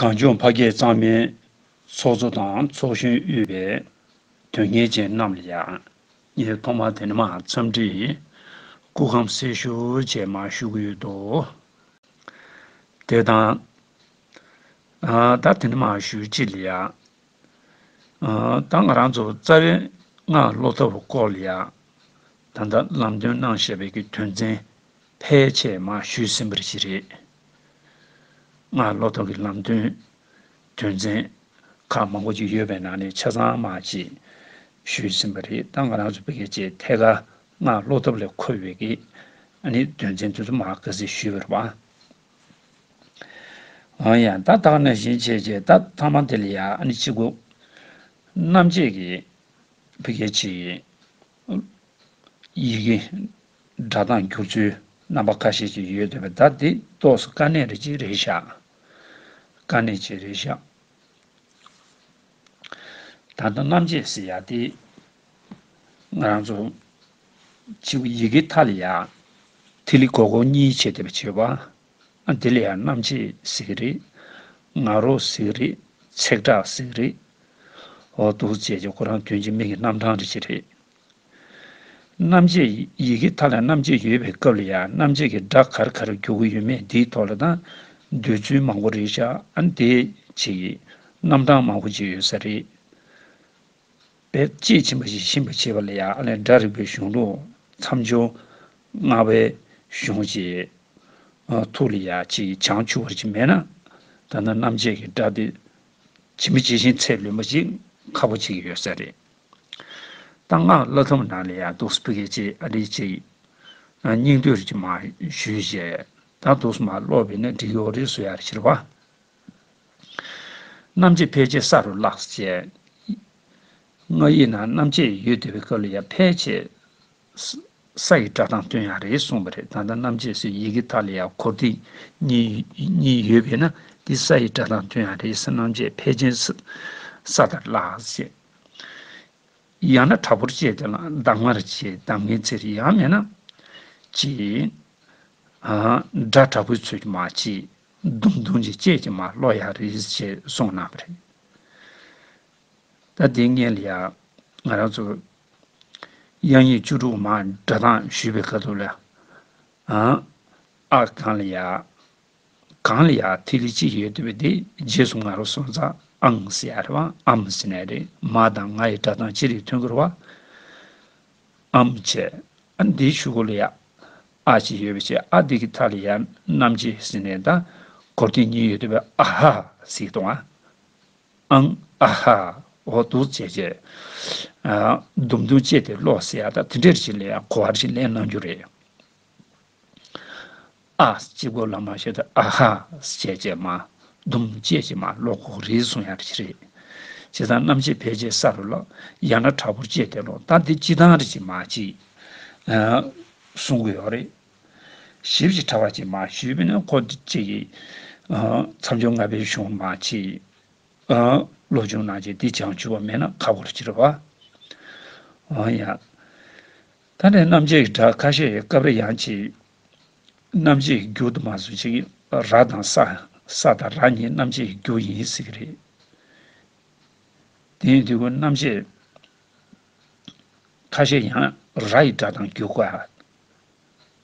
གངས་ལྗོངས་ཕ་སྐད་གཙང་མའི། ཚོགས་གཙོ་དང་ཚོགས་གཞོན་དབུས་པའི། དོན་གཉེར་ཅན་རྣམས་ལ་ཡང། ངས་ཐོག་མར་དེ་མ་འཚམས་འདྲི། སྐུ་ཁམས་སེར་ཤོ་བཅས་མ་ཞུ་གི་ཡོད་དོ། དེ་དང། ད་དེ་འདྲ་མ་ཞུ་གཅིག་ལ་ཡང། ད་ང་རང་ཚོ་རྩ་བའི་སྔགས་སློབ་ཐབས་སྐོར་ལ་ཡང། ད་ལྟ་ལམ་སྟོན་གནང་བཞེད་པའི་དོན་ཚན། ཕལ་ཆེར་མ་ཞུས་ཟིན་པར་གྱི་རེད། སྔར་བློ་སྟོབས་ཀྱི་ལམ་སྟོན་དོན་ཚན་ཁག་མང་པོ་ཞིག་ཡོད་པའི་ནང་ནས་ཆ་ཚང་མ་ཅིག་ཞུས་ཟིན་པ་རེད་ད་ང་རང་ཚོ་བོད་སྐད་ཆའི་ཐད་ཀར་སྔར་བློ་སྟོབས་ལས་འཁོར་བའི་གི་ནི་དོན་ཚན་དེ་ཚོ་མ་ག་ཚད་ཞུས་པར་བ་འང་ཡང་ད་ལྟ་ནས་བཞིན་བྱས་རྗེས་ད་ཐ་མ་དེ་ལ་ཡང་ཅི་དགོས། རྣམ་དཔྱད་ཀྱི་བོད་སྐད་ཆའི། ཡི་གེ། སྒྲ་གདངས་བསྒྱུར་ཚུལ། རྣམ་པ་ཁ་ཤས་ཀྱི་ཡོད་འདོད་པའི་བརྡ་དེ་གཏོགས་སུ་དཀའ་གནད་རེ་གཅིག་རེ་བཞག། དཀའ་གནད་གཅིག་རེ་བཞག། ད་ལྟ་རྣམ་བཅད་ཟེར་ཡག་སྟེ། ང་རང་ཚོ། ཕྱི་ཡི་གེ་མཐའ་ལ་ཡག། ཐིག་ལེ་གོ་གོ་གཉིས་ཕྱེ་སྟེ་བྱེད་པ། འདི་ལ་ཡང་རྣམ་འབྱེད་ཟེར་གྱི་རེད། ང་རོ་ཟེར་གྱི་རེད། ཚེག་དྲག་ཟེར་གྱི་རེད། འོ་འདུག་བཅས་ཀྱི་ཁོ་རང་དོན་གྱི་མིང་གི་རྣམ་གྲངས་རིགས་ཤིག་རེད། རྣམ་འབྱེད་ཡི་གེ་མཐའ་ལ་རྣམ་འབྱེད་ཡོད་པའི་སྐབས་ལ་ཡང་རྣམ་འབྱེད་ཀྱི་སྒྲ་གར་གར་རྒྱུག་གི་ཡོད་མེད་འདིའི་ཐོག་ལ་དང་འདོད་ཚུལ་མང་པོ་རེད་ཤག་འདེད་བྱེད་ཀྱི་རྣམ་གྲངས་མང་པོ་ཅིག་ཡོད་ས་རེད། པའི་དཔྱད་ཕྱིན་པ་ཞིག་ཤེས་པར་བྱས་པ་ལ་ཡང་ཨ་ལས་སྒྲ་རིག་པའི་གཞུང་ལུགས་མཚམས་སྦྱོར་ལྔ་པའི་གཞུང་གཅིག། ཐུགས་ལ་ཡང་གཅིག་བྱང་ཆུབ་བར་གཅིག་མེད་ན། ད་ནི་རྣམ་དཔྱད་ཀྱི་སྒྲ་དེ་ཇི་མི་ཇི་བཞིན་ཚད་ལོན་པ་ཅིག་ཁག་པོ་ཅིག་ཡོད་ས་རེད། ད་སྔགས་བླ་ཐུབ་ནང་ལ་ཡང་དུག་སྤུ་གལ་ཆེ་ཨ་རིག་ཅིག། སྙིང་བསྡུས་རིག་ཅིག་མ་ཞུས་བཞེད། ད་དུག་སྨ་སློག་བས་ནི་འབྲི་ཡོག་རིག་སུ་ཡར་ཕྱིར་བ། རྣམ་འབྱེད་ཕལ་ཆེར་ས་རུ་བརླགས་སོ། ང་ཡིག་ནང་རྣམ་འབྱེད་ཡོད་དེ་བའི་སྐབས་ལ་ཡང་ཕལ་ཆེར་ས་ཡི་སྒྲ་དང་དོན་ཡང་རེད་གསུངས་པ་རེད་ད་ལྟ་རྣམ་འབྱེད་སོགས་ཡི་གེ་དག་ལ་ཡང་གོ་བདེ་གཉིས་ཡོད་པས་ན་འདི་ས་ཡི་སྒྲ་དང་དོན་ཡང་རེད་ས་རྣམ་འབྱེད་ཕལ་ཆེར་ས་ལྟར་བརླགས་སོ། ཡང་ན་དྲག་པོར་བཅད་དེ་ལ་གདམ་ངར་བྱས་གདམ་ངའི་ཚེ་རེད་ཡང་མེད་ན། ཅེས། སྒྲ་དྲག་པོའི་ཚུལ་གྱིས་མ་བྱས། ལྡུམ་ལྡུམ་གྱི་སྐྱེས་ཀྱི་མ་གློ་ཡག་རེད་ཅེས་གསུངས་གནང་བ་རེད། ད་དེ་ངེད་ལ་ཡང་ང་རང་ཚོ་དབྱངས་ཡིག་བཅུ་དྲུག་མ་འདྲ་ཐང་ཞུས་པའི་ཁ་ཐུག་ལ་ཨང། ཨ་གང་ལ་ཡ། གང་ལ་ཡ་ཐིག་ལེ་གཅིག་ཡོད་དུས་དེ་རྗེས་སུ་ང་རང་སོང་ཙང་ཨང་ཟེར་ཡ་རེད་བ་ཨམ་ཟེར་ནའི་རེད་མ་དང་ང་ཡི་འདྲ་ཐང་ཅི་རིགས་མཐུན་ཁུར་བ། ཨ་མོ་ཆེ། ཨ་འདི་ཆུ་ཁོ་ལ་ཡ། ཨ་ཅེ་ཡོད་པའི་ཆེ་ཨ་འདི་གི་ཐ་ལ་ཡ་རྣམ་ཅེ་ཟི་ནས་ད། གོར་ཏི་གཉིས་ཡོད་དུ་བས་ཨ་ཧ། ཟིག་ཏོང་ཨ། ཨང། ཨ་ཧ། འོ་དུག་ཆེ་ཆེ། ཨ། དུམ་དུམ་ཅེ་དེ་ལོག་ཟེ་ཨ་ད་དེ་འདྲས་རེ་བྱེད་ལེ་ཡ་གོ་བ་རེ་བྱེད་ལེན་གནང་རྒྱུ་རེད། ཨཱ། སྤྱི་སྒོ་ལ་མ་ཤེས་ཏེ་ཨ་ཧ། བྱས་རྗེས་མ། དུམ་བཅད་ཀྱི་མ་ལོག་གོག་རིལ་སོང་ཡང་རེད། བྱས་ཙང་རྣམ་ཤེས་ཕལ་ཆེར་ས་རུ་བརླག། ཡང་ན་དྲག་པོར་བཅད་དེ་ལོག་ལྟ་འདི་སྤྱི་དང་རིགས་ཀྱི་མ་གཅིག། གསུང་གི་ཡོག་རེད། ཞིབ་ཀྱིས་ཕྲ་བ་གཅིག་མ་ཞུས་པས་ན་གོ་བདེ་གཅིག། མཚམས་སྦྱོར་ལྔ་པའི་གཞུང་མ་གཅིག། བློ་ཆུང་ནང་བཅད་འདི་བྱང་ཆུབ་བ་མེད་ན་ཁ་བོར་གྱི་རེད་བ། ཡང། ད་ནས་རྣམ་འབྱེད་ཀྱི་སྒྲ་ཁ་ཤས་ཡོད་སྐབས་རེ་ཡང་གཅིག། རྣམ་འབྱེད་ཀྱི་རྒྱུ་དུ་མ་ཟུག་ཅིག་ར་དང་ས། ས་དང་ར་གཉིས་རྣམ་འབྱེད་ཀྱི་རྒྱུ་ཡིན་སྲིད་ཀྱི་རེད། དེ་ཡིན་དུས་ཀུན་རྣམ་འབྱེད་ཁ་ཤས་ཡང་ར་ཡི་སྒྲ་དང་རྒྱུ་གོ།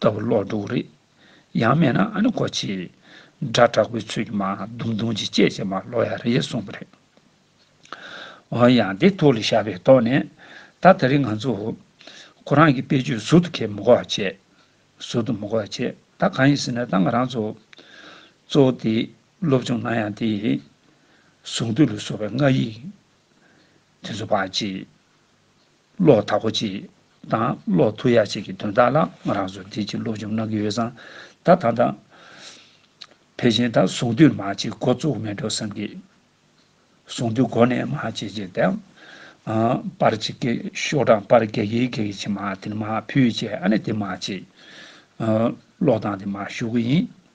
ལྟ་བུ་ལོག་འགྲོ་བོ་རེད། ཡང་མེད་ན་ཨ་ནི་ཁོ་ཆེ། སྒྲ་དྲག་པོའི་ཚུལ་གྱིས་མ་རྡུང་རྡུང་ཅིག་ཅེས་བྱས་མ་ལོག་ཡ་རེད་གསུངས་པ་རེད། འོན་ཡང་དེ་ཐུགས་ལ་ཞགས་པས་རྟོགས་ནས། ད་ད་རིང་ང་ཚོ། ཁོ་རང་གི་དཔེ་བརྗོད་ཟུར་དུ་ཁས་མི་གོ་བ་བྱས། ཟུར་དུ་མི་གོ་བ་བྱས་ད་གང་ཡིན་ཟེར་ན་ད་ང་རང་ཚོ། གཙོ་བོ་དེ་སློབ་སྦྱོང་གནང་ཡང་དེ། གཟུངས་བསྡུས་ལ་སོགས་པའི་སྔགས་ཡིག། དེ་ཚོ་བག་ཅེས། གློག་དག་གོ་ཅིག། དང་གློག་ཐུ་ཡག་ཅིག་གི་དོན་དག་ལ་ང་རང་ཚོ་བདེ་སྐྱིད་སློབ་སྦྱོང་གནང་གི་ཡོད་བསམ། ད་ཐང་ཐང། ཕལ་ཆེན་ད་གཟུང་དུས་མ་ཅིག་འགོ་བཙུགས་མེད་འགྲོ་བསམ་གི། གཟུང་དུས་འགོ་ནས་མ་ཅིག་ཅིག་དང། པར་ཅིག་གི་ཤོག་གྲངས་པར་གེགས་ཡིག་གེགས་ཡིག་ཅིག་མ་དེ་ནི་མ་ཕུད་ཅེས་ཨ་ནི་དེ་མ་ཅིག། གློག་དང་དེ་མ་ཞུགས་གི་ཡིན།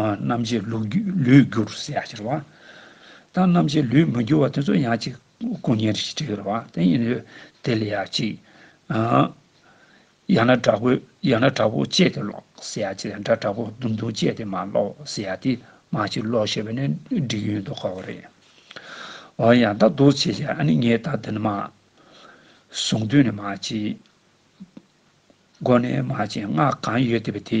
རྣམ་འབྱེད་ལུས་བསྒྱུར་བ་ཞེས་བྱ་བ། དང་རྣམ་འབྱེད་ལུས་མི་བསྒྱུར་བ་དེ་ཚོ་ཡང་ཅིག་སྐུ་བརྙན་རེ་ཞིག་བྲིས་པར་དེ་ཡིན་ནོ། དེ་ལ་ཡང་ཅིག། ཡང་ན་དྲག་པོས་ཡང་ན་དྲག་པོ་སྤྱད་དེ་ཀློག་ཞེས་བྱ་བ་ཡང་དགྲ་དྲག་པོ་དུམ་དུམ་སྤྱད་དེ་མ་ཀློག་ཞེས་བྱ་སྟེ་མ་ཅིག་ཀློག་ཞེས་པ་ནི་འགྲིག་ཡོད་དོ་ཁོ་བོ་རེ། འོ་ཡང་དག་འདུག་ཅེས་བྱ་བ་ནི་ངས་དག་འདི་ནི་མ། གཟུངས་འདུས་ནས་མ་ཅིག། སྒོ་ནས་མ་ཅིག་སྔགས་གང་ཡོད་བཟླས་པ་དེ།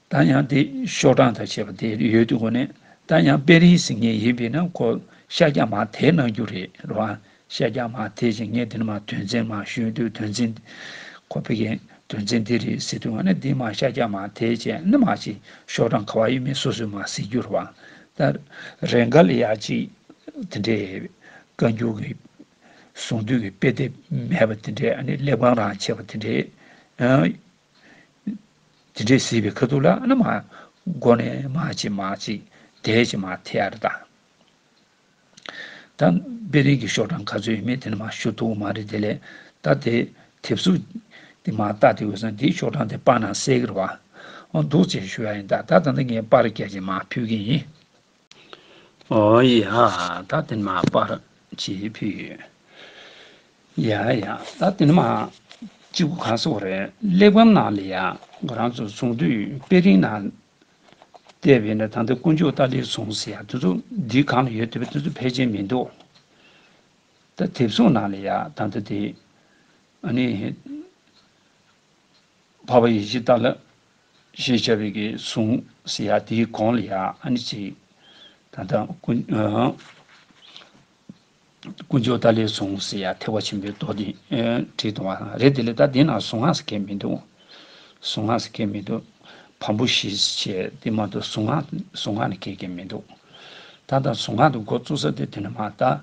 ད་ཡང་དེ་ཤོག་གྲངས་དང་བཅས་པ་དེ་ཡོད་དུས་གོ་ནས་ད་ཡང་དཔེ་རིས་ཟིན་ངེས་ཡིན་པས་ན་གོ་ཤ་རྒྱག་མ་དེས་གནང་རྒྱུ་རེད་རོ་ཨ། ཤ་རྒྱག་མ་དེས་ཀྱང་ངས་དེ་ནི་མ་དོན་ཚན་མ་ཞུས་དུས་དོན་ཚན། ཁོ་ཕེ་ཁེ་དོན་ཚན་འདི་རེད་ཟེར་དུས་ང་ནི་འདི་མ་ཤ་རྒྱག་མ་དེས་བྱས་ནི་མ་ཅིག་ཤོག་གྲངས་ག་བ་ཡོད་མེད་སོ་སོས་མ་ཟེར་རྒྱུ་རོ་ཨ། ད་རེས་འགའ་ལ་ཡག་ཅིག་དེ་འདྲའི་བཀའ་འགྱུར་གྱི་གཟུང་དུས་ཀྱི་དཔེ་དེབ་མེད་པ་དེ་འདྲས་ཨ་ནི་སླེབས་གང་རང་ཆེ་བ་དེ་འདྲས་ཨ། དེ་འདྲའི་སྲིད་པའི་ཁ་ཐུག་ལ་ནི་མ་གོ་ནས་མ་བྱེད་མ་བྱེད་དེའི་ཕྱིར་མ་ཐེ་ཨ་རི་དང། ད་པེ་རིག་གི་ཤོག་གྲངས་ག་ཚོད་ཡོད་མེད་དེ་ནི་མ་ཤོད་ཐུག་མ་རེད་དེ་ལས་ད་དེ་དེབ་གཟུགས་དེ་མ་བལྟ་དེ་འོས་སམ་དེའི་ཤོག་གྲངས་དེ་དཔར་ན་གསལ་གི་ར་བ་འདུག་ཅེས་ཞུ་ཡ་ཡིན་ད་ད་ད་ནི་ངས་དཔར་རྒྱ་ཆེན་མ་ཕུལ་གི་ཡིན། ཨོ་ཡ། ད་དེ་མ་པར་བྱེད་ཕོད་ཡོད། ཡ་ཡ། ད་དེ་མ། སྤྱི་སྒོ་གང་སོགས་རེད། གླེགས་བམ་ནང་ལས་ཡ། ཁོ་རང་ཚོ་ཚོང་དུས་དཔེ་རིང་ནང། བལྟས་པས་ན་ད་ལྟ་དཀོན་མཆོག་ཏཱ་ལའི་ཚོང་ཟེར་ཡ་དེ་ཚོ་འདི་གང་ལ་ཡོད་དེ་བས་དེ་ཚོ་ཕལ་ཆེར་མི་འདུག། ད་དེབ་གཟུགས་ནང་ལས་ཡ་ད་ལྟ་དེ། ཨ་ནི། བྷ་བྷ་ཡེ་ཤེས་ཏཱ་ལ། ཞེས་བྱ་བའི་གེགས་བསྲུང་ཟེར་ཡང་དེའི་གོང་ལ་ཡང་ཨ་ནི་ཚིག། ད་དང། ཀུན་སྦྱོར་ད་ལས་བཟུང་ཟེར་ཡང་ཐེག་པ་ཆེན་པོའི་མདོ་འདི་དྲིལ་དང་བ་དང་རེ་དེ་ལས་ད་དེ་ན་གཟུངས་སྔགས་སུ་ཁེགས་མི་འདུག། གཟུངས་སྔགས་སུ་ཁེགས་མི་འདུག། བམ་པོ་བཞི་ཞེས་དེ་མ་གཏོགས་གཟུངས་སྔགས་ནི་ཁེགས་ཀྱི་མི་འདུག། ད་དང་གཟུངས་སྔགས་ཏུ་འགོ་བཙུགས་ས་དེ་དེ་ན་མ་གཏགས།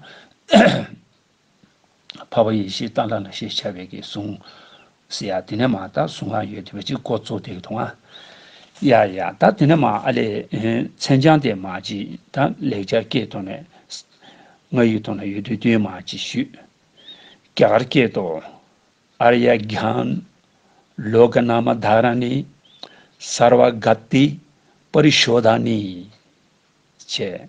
འཕགས་པ་ཡེ་ཤེས་རྟ་འདྲ་ལ་ཞེས་བྱ་བའི་གིས་གཟུང། སི་ཡ་དེ་ནས་མ་ད་གཟུང་ང་ཡོད་དེ་བས་ཅི་ཀོ་ཙོ་དེའི་དུང་ཨ། ཡ་ཡ་ད་དེ་ནས་མ་ཨ་ལས་མཚན་བྱང་དེ་མ་ཅི་ད་ལེགས་སྦྱར་སྐད་དོ་ནས། ང་ཡོད་དུང་ན་ཡོད་དུས་དུས་མ་ཅི་ཞུས། རྒྱ་གར་སྐད་དུ། ཨར་ཡ་གྷྱཱན། ལོ་ཀ་ནཱ་མ་དྷཱ་ར་ནི། སར་བ་གྷཱ་ཏི། པ་རི་ཤོ་དྷ་ནི། བྱས།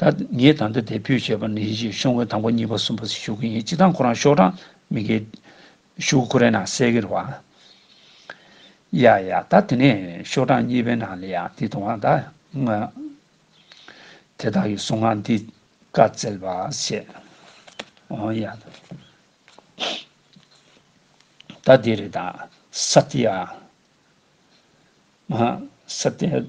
ད་ངས་ད་ལྟ་དེ་ཕུད་བྱས་པ་ནི་ཡིད་ཆེས་ཤོག་ངོས་དང་པོ་གཉིས་པ་གསུམ་པ་ཞུ་གི་ཡིན་གཅིག་དང་ཁོ་རང་ཤོག་གྲངས་མི་འགལ། ཤུག་ཁོ་རའི་ནང་གསལ་གིར་བ། ཡ་ཡ་ད་དེ་ནས་ཤོག་གྲངས་གཉིས་པའི་ནང་ལ་ཡང་དེ་དང་བ་ད་ང། དེ་དག་གི་གསུང་ངག་འདི་བཀའ་བསྩལ་བར་བཤད། ཨོ་ཡ། ད་དེ་རེད་ད་ས་ཏི་ཡ། ང་ས་ཏི་ཡ།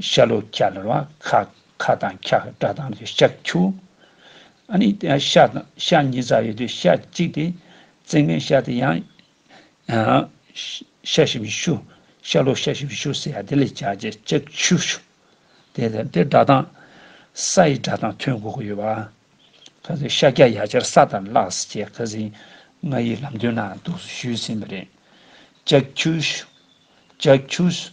ཤ་ལོ་ཀ་ལ་ར་ཁ་ཁ་དང་ཁྱ་སྒྲ་དང་རེ་ཤ་ཁྱུ། ཨ་ནི་ཤ་དང་ཤ་གཉིས་རྩ་ཡོད་དུས་ཤ་གཅིག་སྟེ། རྩེ་ལྔའི་ཤ་དེ་ཡང། ཤ་ཤི་བའི་ཤུ། ཤ་ལོ་ཤ་ཤི་བའི་ཤུ་ཟེར་ཡ་དེ་ལས་བྱ་བྱེད་ལྕགས་ཁྱུ་ཤུ། དེ་དང་དེ་སྒྲ་དང། ས་ཡི་སྒྲ་དང་མཐུན་དགོས་ཀྱི་ཡོད་པ། ཁ་ཟེར་ཤ་སྐྱ་ཡ་ཆར་ས་དང་གླག་ཟེར་བྱེད་ཁ་ཟིན་ང་ཡི་ལམ་སྟོན་ན་འདུག་ཟེར་ཞུས་ཟིན་པ་རེད། ལྕགས་ཁྱུ་ཤུ། ལྕགས་ཁྱུ་ཟེར་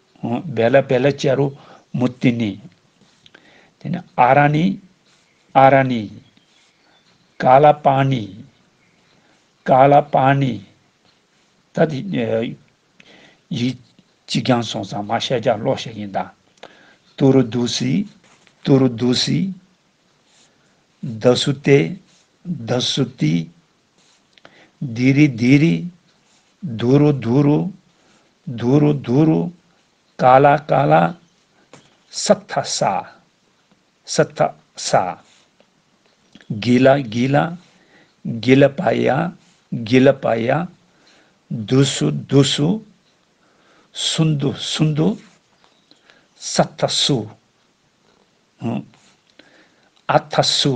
བེ་ལ་བེ་ལ་ཅཱ་རུ་མུ་ཏི་ནི། དེ་ནས་ཨ་ར་ནི། ཨ་ར་ནི། ཀ་ལ་པ་ནི། ཀ་ལ་པ་ནི། ད་དེ་ཡིག་གཅིག་རྐྱང་སོང་ཙང་མ་བཤད་རྒྱག་ཀློག་བཤད་ཡིན་ད། ཏུ་རུ་དུ་སི། ཏུ་རུ་དུ་སི། ད་སུ་ཏེ། ད་སུ་ཏི། དི་རི་དི་རི། དུ་རུ་དུ་རུ། དུ་རུ་དུ་རུ། ཀ་ལ་ཀ་ལ། ས་ཐ་ས། ས་ཐ་ས། གི་ལ་གི་ལ། གི་ལ་པ་ཡ། གི་ལ་པ་ཡ། དུ་སུ་དུ་སུ། སུ་འདུ་སུ་འདུ། ས་ཐ་སུ། ཨ་ཐ་སུ།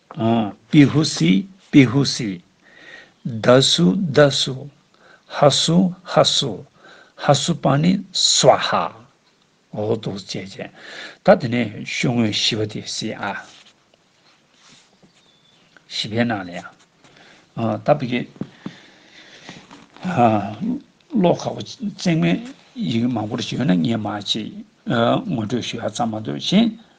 པི་ཧུ་སི་པི་ཧུ་སི། ད་སུ་ད་སུ། ཧ་སུ་ཧ་སུ། ཧ་སུ་པ་ནི་སཝཱ་ཧ། འོག་ཏུ་བསྐྱེད་བྱས། ད་དེ་ནས་ཤུགས་དངོས་བཞི་བ་དེ་སི་ཨ། བཞི་པའི་ནང་ལ་ཡང། ད་བི་ཀའི། བློ་ཁ་བོ་བརྩེགས་མའི་ཡི་གེ་མང་པོར་བྱོན་ན་ངས་མ་བྱས། ངོ་སྤྲོད་ཞུ་ཡག་ཙམ་མ་འདུག་གཞན།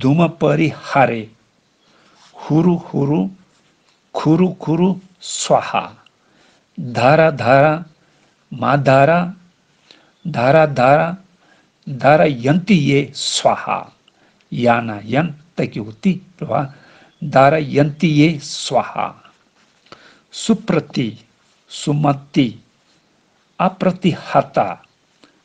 དུ་མ་པ་རི་ཧ་རེ། ཧུ་རུ་ཧུ་རུ། གུ་རུ་གུ་རུ་སཝཱ་ཧ། དྷ་ར་དྷ་ར། མ་དྷ་ར། དྷ་ར་དྷ་ར། དྷ་ར་ཡན་ཏི་ཡེ་སཝཱ་ཧ། ཡ་ན་ཡན་ཏི་ཀི་ཝུ་ཏི་བ། དྷ་ར་ཡན་ཏི་ཡེ་སཝཱ་ཧ། སུ་པྲ་ཏི། སུ་མ་ཏི། ཨ་པྲ་ཏི་ཧ་ཏཱ།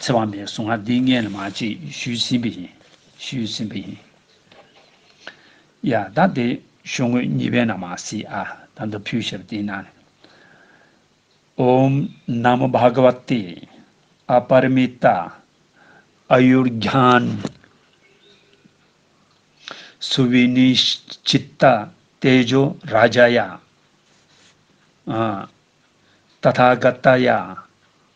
ཚེ་དབང་མེད་གཟུངས་སྔགས་འདི་ངས་ལ་མ་བྱེད་ཞུས་ཟིན་པས་ཡིན། ཞུས་ཟིན་པས་ཡིན། ཡ། ད་དེ་ཞོ་ངོས་གཉིས་པའི་ནང་མ་སྲིད་ཨ། ད་འདི་ཕུལ་ཞབས་དེའི་ནང་ནས། ཨོམ། ན་མོ་བྷ་ག་བ་ཏེ། ཨ་པ་རི་མི་ཏ། ཨ་ཡུར་རྒྱཱན། སུ་བི་ནི་ཅི་ཏ། ཏེ་ཇོ་ར་ཇཱ་ཡ། ཨ། ཏ་ཐ་ག་ཏ་ཡ།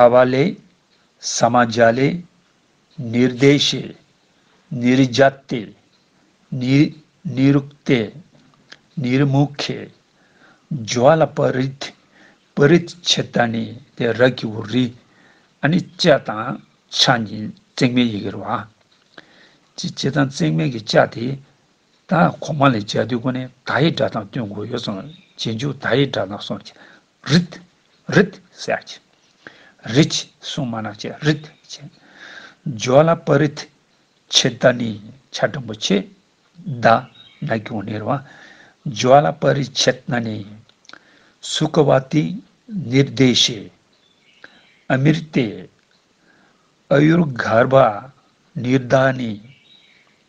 ཨ་བ་ལས། ས་མ་བརྒྱ་ལས། ནི་རྡེ་བྱས། ནི་རི་བརྒྱ་སྟེ། ནི། ནི་རུག་སྟེ། ནི་རི་མུ་ཁའི། སྦྱོར་བ་ལ་པ་རི་ཏི། པི་རི་ཏི་བྱས་ཏ་ནི་དེ་རག་གི་བུ་རི། ཨ་ནི་ལྕགས་དང་ཕྱག་གཉིས་བརྩེགས་མའི་ཡི་གེར་བ། ཅི་ལྕེ་དང་བརྩེགས་མའི་གི་ལྕགས་དེ། ད་གོང་མ་ལས་འཇའ་དུས་ཁོ་ནའི་ད་ཡི་སྒྲ་དང་བསྟུན་དགོས་ཡོད་སོང་རྗེས་འཇུག་ད་ཡི་སྒྲ་ནག་སོང་རྗེས་རིད། རིད། སེ་ཆེ། རིད། སུང་མ་ནག་ཆེ་རིད། ཆེ། འཇོ་ལ་པ་རིད། ཆེ་ད་ནི་ཆ་དྲང་པོ་ཆེ། ད། ན་གྱོང་ནེར་བ། འཇོ་ལ་པ་རིད་ཆེ་ད་ནི། སུ་ཀ་བ་ཏི། ནིར་བདེ་ཤེ། ཨ་མིར་བལྟས། ཨ་ཡུར་གར་བ། ནིར་ད་ནི།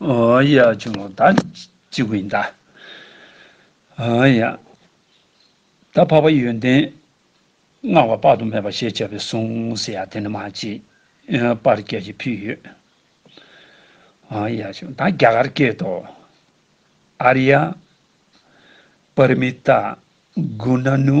ཡ། ཆུ་མོ་ད་ཅི་གི་ཡིན་ད། ཡ། ད་འཕགས་པ་ཡོན་ཏན་བསྔགས་པ་དཔག་ཏུ་མེད་པ་ཞེས་བྱ་བའི་གཟུངས་སུ་ཡ་དེ་ནི་མ་མཆིས། པར་སྐད་ཅིག་ཕུལ་ཡོད། ཡ། ཆུ་མོ་ད་རྒྱ་གར་སྐད་དུ། ཨ་རི་ཡ། པར་མི་ཏཱ། གུ་ན་ནུ།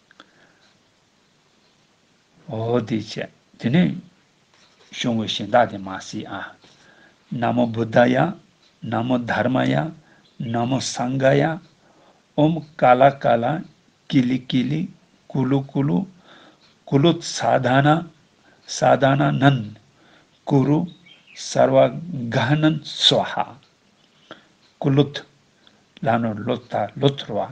འོ་དེ་ཆད། དེ་ནས་བྱུང་བའི་གཞན་དག་དེ་མ་སྲིད་ཨ། ན་མོ་བུ་དཱ་ཡ། ན་མོ་དྷརྨ་ཡ། ན་མོ་སངྒ་ཡ། ཨོྃ་ཀཱ་ལ་ཀཱ་ལ། ཀི་ལི་ཀི་ལི། ཀུ་ལུ་ཀུ་ལུ། ཀུ་ལུ་ས་དྷ་ན། ས་དྷ་ན་ནན། ཀུ་རུ། སར་བ་གྷ་ནན་སཱོ་ཧ། ཀུ་ལུད། ལ་ནོར་ལོ་ད་ལོ་དོར་བ།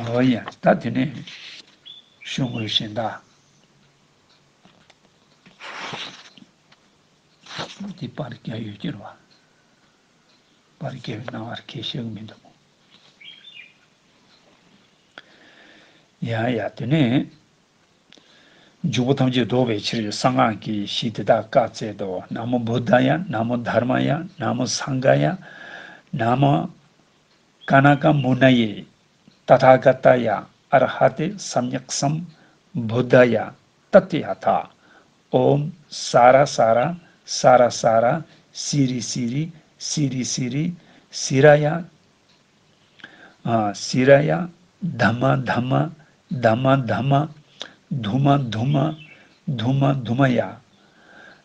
ཨོ་ཡ། ད་དེ་ནས་ཞུ་དགོས་ཞེ་ད། འདི་པར་རྒྱ་ཡོད་ཀྱི་རོ། པར་རྒྱ་ཡོད་སྣང་བར་ཁས་ཤག་མི་འདུག། ཡ་ཡ་དེ་ནས། འཇུག་པོ་ཐམས་ཅད་ཟློག་པའི་ཕྱིར་གསང་སྔགས་ཀྱི་གཞི་དེ་དག་བཀའ་སྩལ་ཏོ། ན་མོ་བུདྡྷ་ཡ། ན་མོ་དྷརྨ་ཡ། ན་མོ་སངྒྷ་ཡ། ན་མོ་ཀ་ན་ཀ་མུ་ན་ཡེ། ཏ་ཐ་ག་ཏ་ཡ་ཨ་ར་ཧ་ཏེ་སམ་ཡག་སམ། བུ་དཱ་ཡ་ཏཱ་ཏི་ཧ་ཐཱ། ཨོམ། ས་ར་ས་ར་ས་ར་ས་ར། སི་རི་སི་རི་སི་རི་སི་རི། སི་ར་ཡ། སི་ར་ཡ། དཱ་མ་དཱ་མ་དཱ་མ་དཱ་མ། དུ་མ་དུ་མ་དུ་མ་དུ་མ་ཡ།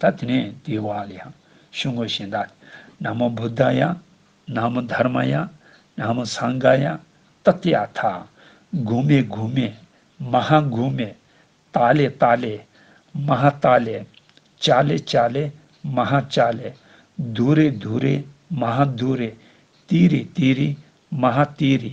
ད་དེ་ནས་དེའི་བར་ལ་ཡང་ཞུ་དངོས་གཞན་དག་སྟེ། ན་མོ་བུདྡྷ་ཡ། ན་མོ་དྷར་མ་ཡ། ན་མོ་སངྒ་ཀ་ཡ། ཏཱ་ཏི་ཨ་ཐ། གུ་མེ་གུ་མེ། མ་ཧ་གུ་མེ། ཏཱ་ལེ་ཏཱ་ལེ། མ་ཧ་ཏཱ་ལེ། ཅཱ་ལེ་ཅཱ་ལེ། མ་ཧ་ཅཱ་ལེ། དུ་རེ་དུ་རེ། མ་ཧ་དུ་རེ། ཏི་རི་ཏི་རི། མ་ཧ་ཏི་རི།